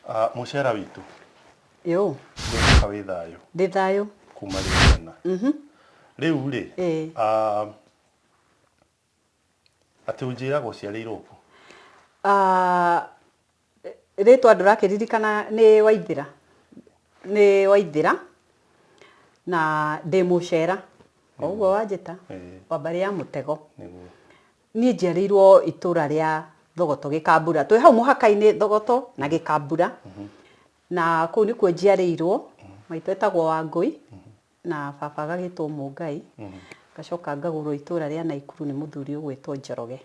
Ah, mũcera witũ Yo, ndĩka wĩ thayũ ndĩ thayũ. kuma rĩu tena rĩu rĩ Eh. ah, atĩ ũnjĩraga ũciarĩirwo kũ Ah, rĩtwa ndũrakĩririkana nĩ waithĩra nĩ waithĩra na ndĩ mũcera o ũguo wanjĩta Eh. wambarĩ ya mũtego nĩguo Niĩ njiarĩirwo itũra rĩa Thogoto Gĩkambura. Twĩ hau mũhaka-inĩ Thogoto na Gĩkambura. Na kũu nĩkuo njiarĩirwo. Maitũ etagwo Wangũi na baba agagĩtwo Mũngai. Ngacoka ngagũrwo itũra rĩa Naikuru nĩ mũthuri ũgwĩtwo Njoroge.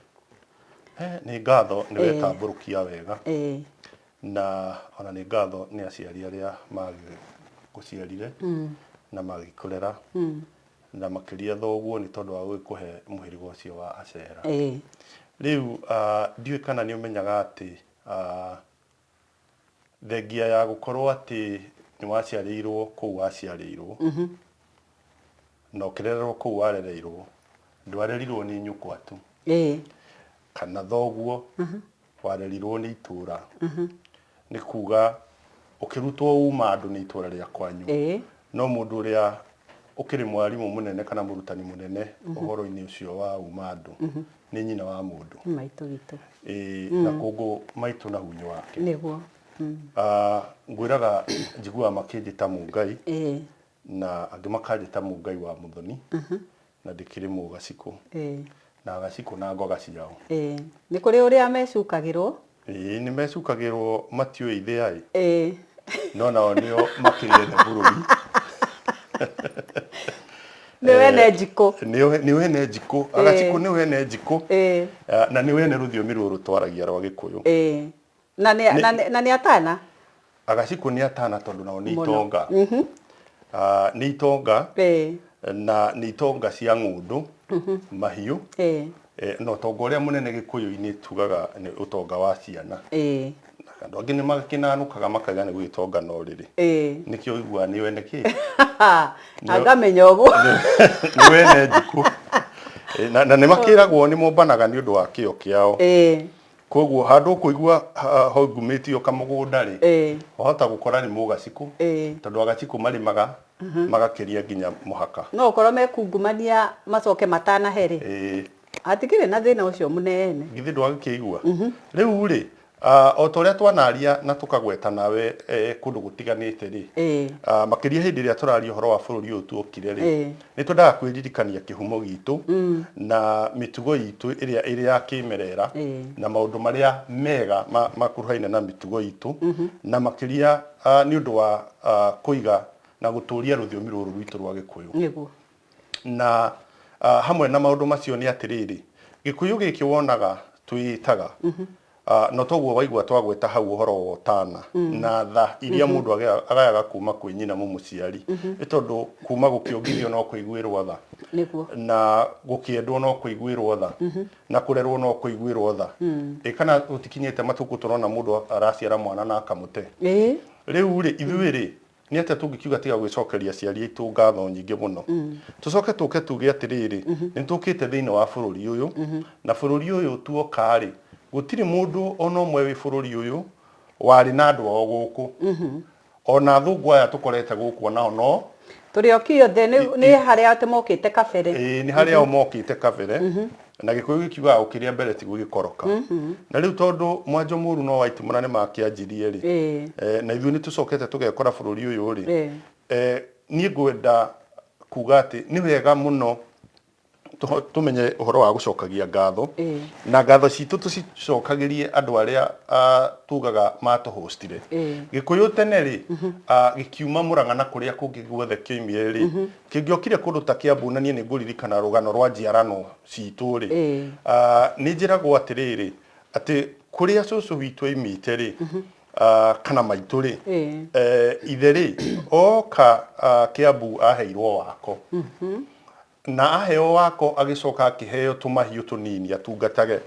Nĩ ngatho nĩ wetambũrũkia wega. Na ona nĩ ngatho nĩ aciari arĩa magĩgũciarire na magĩkũrera. Na makĩria thoguo nĩ tondũ wa gũgĩkũhe mũhĩrĩga ũcio wa Ashera. Ĩĩ. Rĩu ndiũĩ kana nĩ ũmenyaga atĩ thengia ya gũkorwo atĩ nĩ waciarĩirwo kũu waciarĩirwo na ũkĩrererwo kũu warereirwo, ndwarerirwo nĩ nyũkwa tu kana thoguo warerirwo nĩ itũra nĩ kuga ũkĩrutwo uma andũ nĩ itũra rĩa kwanyu Ĩĩ. no mũndũ ũrĩa ũkĩrĩ mwarimũ mũnene kana mũrutani mũnene ũhoro-inĩ ũcio wa uma andũ nĩ nyina wa mũndũ nĩ maitũ witũ Ĩĩ, na kũngũ maitũ na hunyu wake nĩguo Ah, ngwĩraga njiguaga makĩnjĩta mũngai ĩĩ Na angĩ makanjĩta Mũngai wa Mũthoni, na ndĩkĩrĩ Mũgacikũ, Ĩĩ. na Agacikũ na Ngoga ciao. Ĩĩ. Nĩ kũrĩ ũrĩa mecukagĩrwo. Ĩĩ, nĩ mecukagĩrwo matiũĩ ithĩa-ĩ. Ĩĩ. No nao nĩo makĩrĩ ene bũrũri. Nĩo ene njikũ. Nĩo nĩo ene njikũ. Ĩĩ. Agacikũ nĩo ene njikũ. Ĩĩ. Na nĩo ene rũthiomi rũrũ twaragia rwa Gĩkũyũ. Ĩĩ. na nĩ Nĩ- na nĩ- na nĩ atana agacikũ nĩ atana tondũ nao nĩ Mũno. itonga Ah, nĩ itonga Eh, na nĩ itonga cia ng'ũndũ mahiũ eh, Eh, na ũtonga ũrĩa mũnene gĩkũyũ-inĩ tugaga nĩ ũtonga wa ciana eh, andũ angĩ nĩ makĩnanũkaga makaiga nĩ gwĩtonga no rĩrĩ eh. nĩkĩo ũiguaga nĩ wene kĩ na ngamenya ũguo nĩ wene njukũ Eh, na na nĩ makĩragwo nĩ mombanaga nĩ ũndũ wa kĩo kĩao Eh, Kwoguo handũ ũkũigua hongumĩtio kamũgũnda-rĩ, wahota gũkora nĩ mũgacikũ, tondũ agacikũ marĩmaga magakĩria nginya mũhaka. No ũkorwo mekungumania macoke matanahe-rĩ, hatikĩrĩ na thĩna ũcio mũnene. Githĩ ndwagĩkĩigua? Rĩu-rĩ, o ta ũrĩa twanaria na tũkagwetana we kũndũ gũtiganĩte-rĩ, makĩria hĩndĩ ĩrĩa tũraria ũhoro wa bũrũri ũyũ tuokire-rĩ, Nĩ twendaga kwĩririkania kĩhumo gitũ na mĩtugo itũ ĩrĩa ĩrĩ ya kĩĩmerera Ĩĩ. na maũndũ marĩa mega ma- makuruhaine na mĩtugo itũ na makĩria ah, nĩ ũndũ wa ah, kũiga na gũtũũria rũthiomi rũrũ rwitũ rwa gĩkũyũ nĩguo na ah, hamwe na maũndũ macio nĩ atĩrĩrĩ gĩkũyũ gĩkĩ wonaga twĩĩtaga A No toguo waigua twagweta hau ũhoro wa ũtana na tha iria mũndũ agea- agayaga kuuma kwĩ nyina mũmũciari. Nĩ tondũ kuuma gũkĩongithio no kũiguĩrwo tha, Nĩguo. na gũkĩendwo no kũiguĩrwo tha, na kũrerwo no kũiguĩrwo tha. Ĩ kana gũtikinyĩte matukũ tũrona mũndũ araciara mwana na akamũte? Ĩĩ. Rĩu-rĩ, ithuĩ-rĩ, Nĩ atĩa tũngĩkiuga tiga gwĩcokeria aciari aitũ ngatho nyingĩ mũno? Tũcoke tũke tuuge atĩrĩrĩ, nĩ tũũkĩte thĩinĩ wa bũrũri ũyũ, na bũrũri ũyũ tuoka-rĩ, gũtirĩ mũndũ o na ũmwe wĩ bũrũri ũyũ warĩ na andũ ao gũkũ. O na athũngũ aya tũkorete gũkũ o nao no. Tũrĩ oiki othe, nĩ harĩ ao atĩ mokĩte kabere. Ĩĩ, nĩ harĩ ao mokĩte kabere. Na gĩkũyũ gĩkiugaga ũkĩrĩa mbere tiguo gĩkoroka. Na rĩu tondũ mwanjo mũru no wa itimũra nĩmakĩanjirie rĩ, Ĩĩ. eh, na ithuĩ nĩtũcokete tũgekora bũrũri ũyũ rĩ, Ĩĩ. eh, niĩ ngwenda kuga atĩ nĩ wega mũno tũho- tũmenye ũhoro wa gũcokagia ngatho Ĩĩ. na ngatho citũ tũcicokagĩrie andũ arĩa ah, tugaga matũhũcitire Ĩĩ. gĩkũyũ tene rĩ ah, gĩkiuma mũrang'a na kũrĩa kũngĩ guothe kĩoimire rĩ Kĩngĩokire kũndũ ta Kĩambu na niĩ nĩ ngũririkana rũgano rwa njiarano citũ rĩ, nĩ njĩragwo atĩrĩrĩ, atĩ kũrĩa cũcũ witũ aimĩte rĩ, kana maitũ rĩ, ithe rĩ, oka Kĩambu aheirwo wako, na aheo wako agĩcoka akĩheo tũmahiũ tũnini atungatage,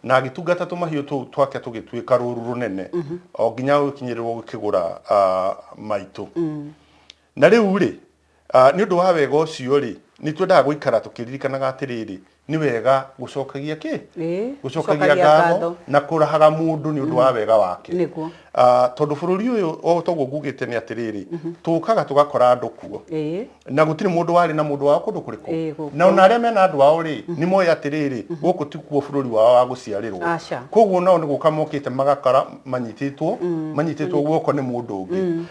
na agĩtungata tũmahiũ tũu twake tũgĩtuĩka rũru rũnene, o nginya gũgĩkinyĩrĩrwo gũkĩgũra maitũ. Na rĩu-rĩ, nĩ ũndũ wa wega ũcio-rĩ, nĩ twendaga gũikara tũkĩririkanaga atĩrĩrĩ, nĩ wega gũcokagia kĩ? Gũcokagia ngatho na kũrahaga mũndũ nĩ ũndũ wa wega wake. Tondũ bũrũri ũyũ o ta ũguo ngugĩte nĩ atĩrĩrĩ, tũkaga tũgakora andũ kuo, na gũtirĩ mũndũ warĩ na mũndũ wao kũndũ kũrĩkũ. Na o na arĩa mena andũ ao-rĩ, nĩ moĩ atĩrĩrĩ, gũkũ ti kuo bũrũri wao wa gũciarĩrwo. Kwoguo o nao nĩ gũka mokĩte magakora manyitĩtwo, manyitĩtwo guoko nĩ mũndũ ũngĩ.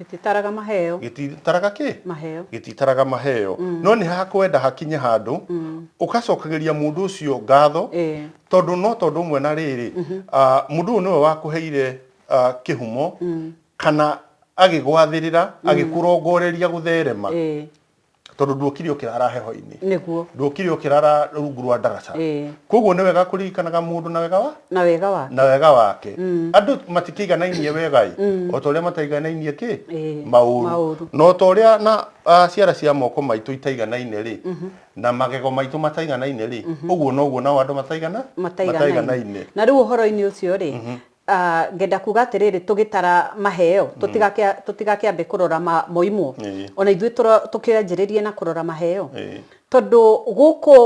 Gĩtitaraga maheo. Gĩtitaraga kĩ? Maheo. Gĩtitaraga maheo. Mm. No nĩ hakwenda hakinye handũ mm. ũkacokagĩria mũndũ ũcio ngatho e. tondũ no tondũ ũmwe na rĩrĩ mm -hmm. uh, mũndũ ũyũ nĩwe wakũheire uh, kĩhumo mm. kana agĩgwathĩrĩra mm. agĩkũrongoreria gũtherema e. tondũ nduokire ũkĩrara heho-inĩ nĩguo nduokire ũkĩrara rungu rwa ndaraca Ĩĩ. koguo nĩ wega kũririkanaga mũndũ na wega wa na wega wa na wega wake andũ matikĩiganainie wega ĩ o ta ũrĩa mataiganainie kĩ Ĩĩ, maũru maũru. na o ta ũrĩa na ah, ciara cia moko maitũ itaiganainie rĩ na magego maitũ mataiganainie rĩ ũguo noguo nao andũ mataigana mataiganainie na rĩu ũhoro-inĩ ũcio rĩ Ngenda kuuga atĩrĩrĩ, tũgĩtara maheo, tũtigakĩambe kũrora moimwo, o na ithuĩ tũkĩanjĩrĩrie na kũrora maheo, tondũ gũkũ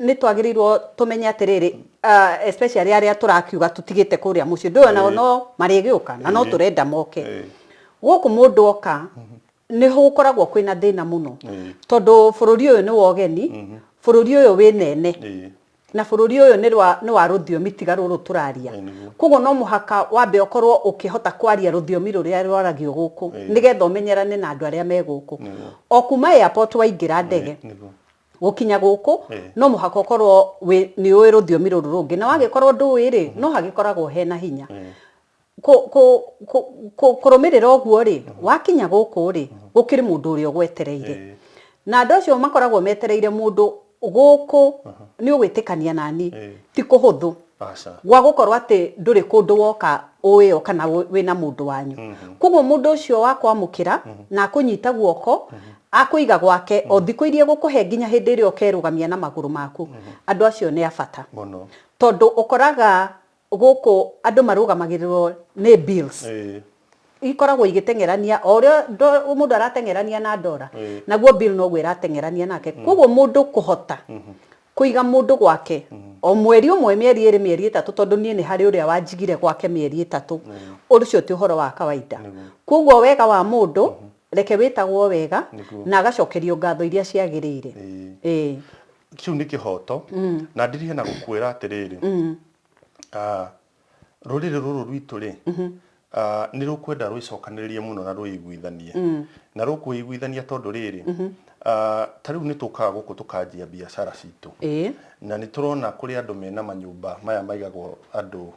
nĩ twagĩrĩirwo tũmenye atĩrĩrĩ, especially arĩa tũrakiuga tũtigĩte kũrĩa mũciĩ, ndũĩ o nao no marĩgĩũka na no tũrenda moke. Gũkũ mũndũ oka, nĩ gũkoragwo kwĩ na thĩna mũno, tondũ bũrũri ũyũ nĩ wa ũgeni, bũrũri ũyũ wĩ nene, na bũrũri ũyũ nĩ rwa nĩ wa rũthiomi tiga rũrũ tũraria Ĩĩ, nĩguo. koguo no mũhaka wambe ũkorwo ũkĩhota kwaria rũthiomi rũrĩa rwaragio gũkũ Ĩĩ. nĩgetha ũmenyerane na andũ arĩa me gũkũ Nĩguo. o kuma airport waingĩra ndege Nĩguo. gũkinya gũkũ Ĩĩ. no mũhaka ũkorwo wĩ- nĩ ũĩ rũthiomi rũrũ rũngĩ na wagĩkorwo ndũĩ rĩ no hagĩkoragwo hena hinya Ĩĩ. kũ, kũ, kũ, kũ, kũrũmĩrĩra ũguo rĩ wakinya gũkũ rĩ gũkĩrĩ mũndũ ũrĩa ũgwetereire Ĩĩ. na andũ acio makoragwo metereire mũndũ gũkũ nĩ ũgwĩtĩkania nani Ĩĩ. ti kũhũthũ Aca. gwa gũkorwo atĩ ndũrĩ kũndũ woka ũĩ o kana wĩ- wĩna mũndũ wanyu koguo mũndũ ũcio wa kwamũkĩra na akũnyita guoko akũiga gwake o thikũ iria egũkũhe nginya hĩndĩ ĩrĩa ũkerũgamia na magũrũ maku andũ acio nĩ a bata Mũno. tondũ ũkoraga gũkũ andũ marũgamagĩrĩrwo nĩ bills Ĩĩ. ikoragwo igĩteng'erania o ũrĩa ndo- mũndũ arateng'erania na ndora Ĩĩ. naguo bill noguo ĩrateng'erania nake koguo mũndũ kũhota kũiga mũndũ gwake o mweri ũmwe mĩeri ĩrĩ mĩeri ĩtatũ tondũ niĩ nĩ harĩ ũrĩa wanjigire gwake mĩeri ĩtatũ ũcio ti ũhoro wa kawaida Nĩguo. koguo wega wa mũndũ reke wĩtagwo wega Nĩguo. na agacokerio ngatho iria ciagĩrĩire Ĩĩ. Ĩĩ. kĩu nĩ kĩhoto na ndirihia na gũkwĩra atĩrĩrĩ ah, rũrĩrĩ rũrũ rwitũ rĩ ah, nĩ rũkwenda rwĩcokanĩrĩrie mũno na rwĩiguithanie na rũkwĩiguithania tondũ rĩrĩ ah, ta rĩu nĩ tũkaga gũkũ tũkanjia biacara citũ ĩĩ na nĩ tũrona kũrĩ andũ mena manyũmba maya maigagwo andũ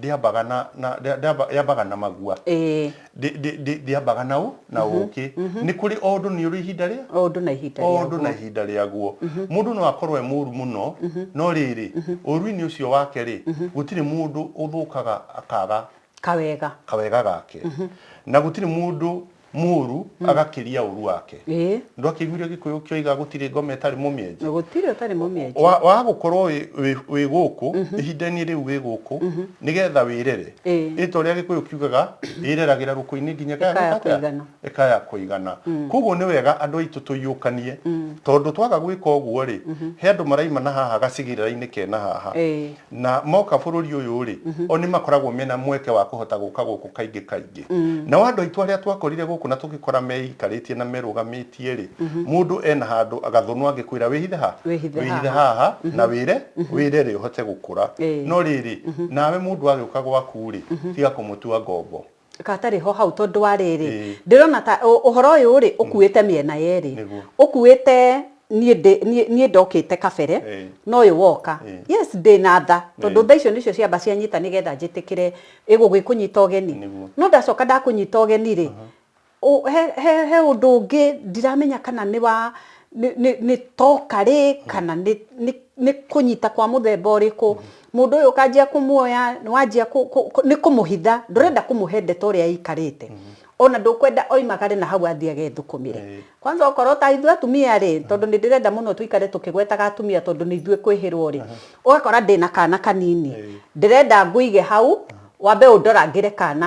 ndĩambaga na na ndĩa- ndĩamba- ndĩambaga na magua ĩĩ Ndĩ- ndĩ- ndĩ- ndĩambaga na ũ na ũkĩ nĩ kũrĩ o ũndũ nĩ ũrĩ ihinda rĩa o ũndũ na ihinda o ũndũ na rĩaguo ihinda rĩaguo mũndũ no akorwo e mũũru mũno no rĩrĩ ũũru-inĩ ũcio wake rĩ gũtirĩ mũndũ ũthũkaga akaga kawega kawega gake na gũtirĩ mũndũ Mũũru agakĩria ũũru wake. Ĩĩ. Ndwakĩiguire Gĩkũyũ kĩoiga gũtirĩ ngoma ĩtarĩ mũmĩenji? Gũtirĩ ũtarĩ mũmĩenji. Wa, wa gũkorwo wĩ, wĩ, wĩ gũkũ, ihinda-inĩ rĩu wĩ gũkũ, nĩgetha wĩrere. Ĩĩ. Rĩĩtwa rĩa Gĩkũyũ kiugaga, ĩreragĩra rũkũ-inĩ nginya ĩkaya Ĩkaya gwĩka atĩa? kũigana. Ĩkaya kũigana. Kwoguo nĩ wega andũ aitũ tũiyũkanie, tondũ twaga gwĩka ũguo-rĩ, he andũ maraimana haha gacigĩrĩra-inĩ kena haha. Ĩĩ. na moka bũrũri ũyũ-rĩ, o nĩ makoragwo mena mweke wa kũhota gũka gũkũ kaingĩ kaingĩ. Nao andũ aitũ arĩa twakorire gũkũ na tũgĩkora meikarĩtie na merũgamĩtie-rĩ, mũndũ ena handũ gathũnũ angĩkwĩra wĩhithe ha? Wĩhithe haha. Wĩhithe haha na wĩre, wĩre-rĩ ũhote gũkũra. Ĩĩ. No rĩrĩ, nawe mũndũ agĩũka gwaku-rĩ, tiga kũmũtua ngombo. Gatarĩ ho hau tondũ wa rĩrĩ, Ĩĩ. ndĩrona ta ũ- ũhoro ũyũ rĩ ũkuĩte mĩena yerĩ. Nĩguo. Ũkuĩte niĩ ndĩ- niĩ niĩ ndokĩte kabere Ĩĩ. na ũyũ woka. Ĩĩ. Yes ndĩ na tha tondũ Ĩĩ. tha icio nĩcio ciamba cianyita nĩgetha njĩtĩkĩre ĩgũgĩkũnyita ũgeni. Nĩguo. No ndacoka ndakũnyita ũgeni rĩ, He ũndũ ũngĩ ndiramenya kana nĩ wa, nĩ toka rĩ, kana nĩ kũnyita kwa mũthemba ũrĩkũ, mũndũ ũyũ ũkanjia kũmuoya, nĩ wanjia nĩ kũmũhitha, ndũrenda kũmũhe ndeto ũrĩa ĩikarĩte, ona ndũkwenda oimagare na hau athiĩ agethũkũmĩre. Kwanza okorwo ta ithuĩ atumia rĩ, tondũ nĩ ndĩrenda mũno tũikare tũkĩgwetaga atumia tondũ nĩ ithuĩ kwĩhĩrwo rĩ, ũgakora ndĩna kana kanini, ndĩrenda ngũige hau, wambe ũndorangĩre kana.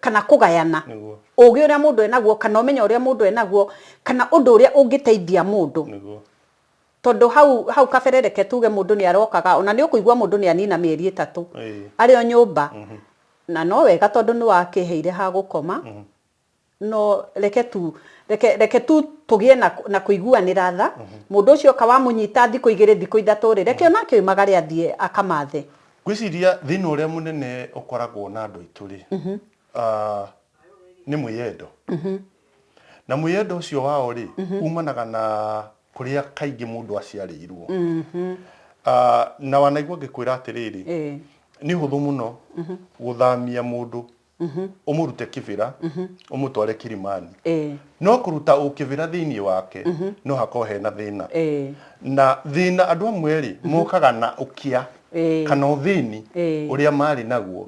kana kũgayana Nĩguo. ũgĩ ũrĩa mũndũ enaguo kana ũmenyo ũrĩa mũndũ enaguo kana ũndũ ũrĩa ũngĩteithia mũndũ nĩguo tondå hau hau kabere reke tuge må ndå nä arokaga ona nä å kå igua må ndå nä anina mä eri ä tatå Ĩĩ. arä o nyå mba na no wega tondå nä wakä heire ha gå koma no reke tu reke, reke tu tå gä e na, na kå iguanä ra tha må ndå å cio oka wamå nyita thikå igä rä thikå ithatå rä reke onake oimagare athiä akamathe Ngwĩciria thĩna ũrĩa mũnene ũkoragwo na andũ aitũ-rĩ, nĩ mwĩyendo. Na mwĩyendo ũcio wao-rĩ, umanaga na kũrĩa kaingĩ mũndũ aciarĩirwo. Na wanaigua ngĩkwĩra atĩrĩrĩ, nĩ ũhũthũ mũno gũthamia mũndũ ũmũrute kĩbĩra ũmũtware kirimani Eh. no kũruta ũkĩbĩra thĩinĩ wake no hakorwo hena thĩna Eh. na thĩna andũ amwe rĩ mokaga na ũkĩa Eh. kana ũthĩni Eh. ũrĩa marĩ naguo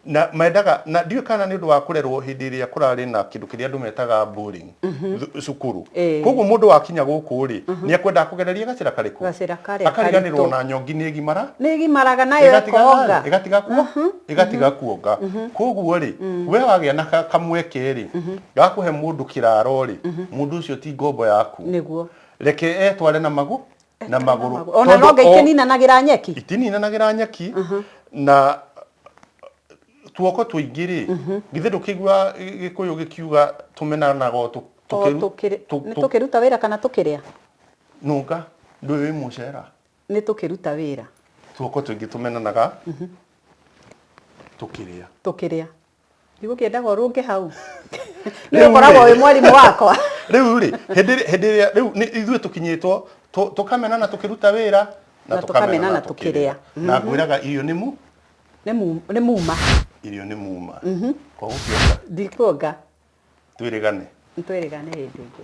na mendaga na ndiũĩ kana nĩ ũndũ wa kũrerwo hĩndĩ ĩrĩa kũrarĩ na kĩndũ kĩrĩa andũ metaga bullying mhm. cukuru eh. koguo mundu wakinya guku ri mhm. ni akwenda kugereria gacira kariku gacira kare akariganirwo na nyongi ni gimara ni gimaraga nayo ikoga igatiga kuo mhm. igatiga kuonga koguo ri mm. we wagia na kamweke ri gakuhe mundu kiraro ri mundu ucio ti ngombo yaku niguo reke etware na magu na maguru ona no ngaikinina nagira nyeki itinina nagira nyeki na tuoko tuingi ri githe ndukigua gikuyu gikiuga tumenanaga o tu- O tukiru- tũkĩrĩ- tu- nĩ tu- tũkĩruta wĩra kana tũkĩrĩa nunga ndwi wi mucera nĩ tũkĩruta wĩra tuoko tuingi tumenanaga tukiria tũkĩrĩa ndigũkĩendaga ũrũnge hau Rĩu nĩ ũkoragwo rĩ- wĩ mwarimũ wakwa riu ri hindi hindi ria riu ni ithuĩ tukinyitwo tu- tukamenana tukiruta wira Na tũkamenana tũkĩrĩa. na ngwiraga irio nĩ mu Nĩ mu- nĩ muma irio nĩ muma kwa gũkĩonga ndikuonga twĩrĩgane nĩ twĩrĩgane hĩndĩ ĩngĩ